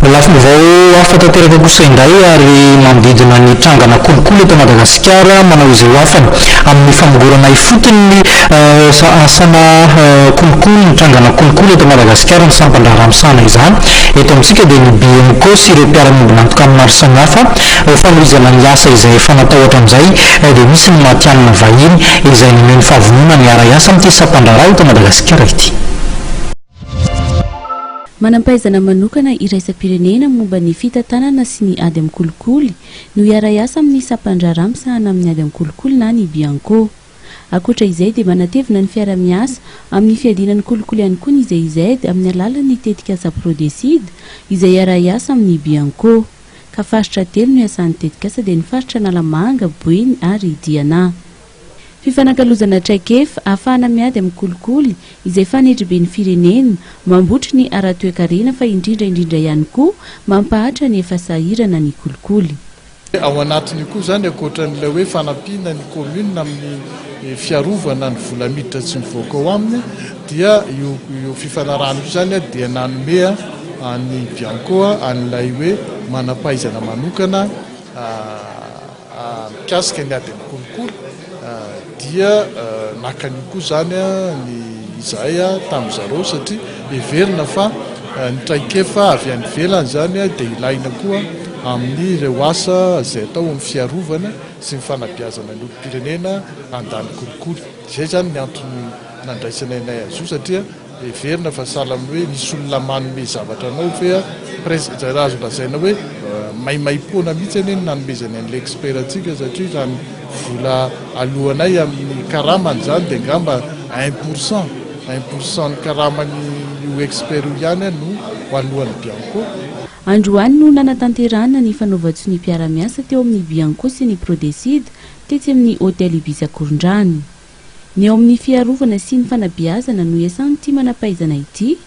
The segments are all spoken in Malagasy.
Lafim-baovao hafa tanteraka kosa indray ary manodidina ny trangana kolikoly eto Madagasikara manao izay ho afany amin'ny famongorana ifotony ny asana kolikoly, ny trangana kolikoly eto Madagasikara, ny sampan-draharaha misahana izany eto amintsika dia ny BMKO sy ireo mpiara-miombon'antoka maro samihafa ho fanohizana ny asa izay efa natao hatramin'izay dia misy ny matihanina vahiny izay naneho ny fahavononany hiara-hiasa amin'ity sampan-draharaha eto Madagasikara ity. Manam-pahaizana manokana iraisam-pirenena momba ny fitantanana sy ny ady amin'ny kolikoly no hiara-hiasa amin'ny sampan-draharaha misahana amin'ny ady amin'ny kolikoly na ny Bianco. Ankoatra izay dia manatevina ny fiara-miasa amin'ny fiadiana ny kolikoly ihany koa ny GIZ amin'ny alalan'ny tetikasa Prodecide izay hiara-hiasa amin'ny Bianco ka faritra telo no hiasan'ny tetikasa dia ny faritra Analamanga, Boeny ary Diana. Fifanakalozana traikefa ahafahana miady amin'ny kolikoly izay fanidribin'ny firenena, mambotry ny ara-toekarena fa indrindra indrindra ihany koa mampahatra ny efa sahirana ny kolikoly. Ao anatin'io koa izany, ankoatra an'ilay hoe fanampiana ny kaominina amin'ny fiarovana ny vola miditra tsy mivoaka ao aminy dia io io fifanarahana io izany dia nanome an'ny Bianco an'ilay hoe manam-pahaizana manokana Mikasika ny ady amin'ny kolikoly dia naka an'io koa izany ny izahay tamin'ny zareo satria heverina fa ny traikefa avy any ivelany izany dia ilaina koa amin'ireo asa izay atao amin'ny fiarovana sy ny fanabeazana ny olom-pirenena handany kolikoly. Izay izany ny antony nandraisana anay azy io satria. Heverina fa sahala amin'ny hoe misy olona manome zavatra anao ve an? Presque izay raha azo lazaina hoe maimaimpoana mihitsy anie ny nanomezany an'ilay expert antsika satria raha ny vola aloanay amin'ny karamany izany dia angamba un pour cent, un pour cent ny karaman'io expert io ihany no aloan'ny Bianco. Androany no nanatanterahana ny fanaovan-tsonia mpiara-miasa teo amin'ny Bianco sy ny Prodecid tetsy amin'ny Hotel Ibis Akorondrano. Ny ao amin'ny fiarovana sy ny fanabeazana no iasan'ity manam-pahaizana ity.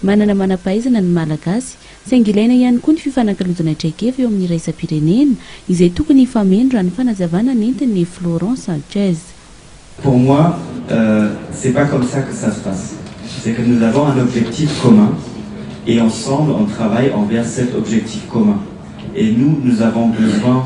Manana manam-pahaizana ny Malagasy, saingy ilaina ihany koa ny fifanankalozana traikefa eo amin'ny iraisam-pirenena, izay tokony hifameno, raha ny fanazavana nentin'i Florent Sanchez. Pour moi, c'est pas comme ça que ça se passe, c'est que nous avons un objectif commun et ensemble on travaille envers cet objectif commun et nous, nous avons besoin,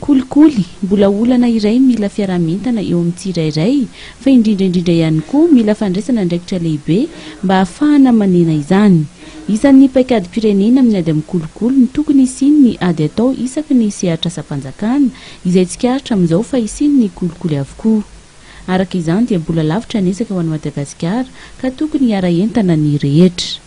Kolikoly, mbola olana iray mila fiaraha-mientana eo amin'ny tsirairay, fa indrindra indrindra ihany koa mila fandraisana andraikitra lehibe mba hahafahana manena izany. Isan'ny paikadim-pirenena amin'ny ady amin'ny kolikoly ny tokony hisian'ny ady atao isaky ny sehatr'asam-panjakana izay tsikaritra amin'izao fa hisian'ny kolikoly avokoa. Araka izany dia mbola lavitra ny ezaka ho an'i Madagasikara ka tokony hiara-hientana ny rehetra.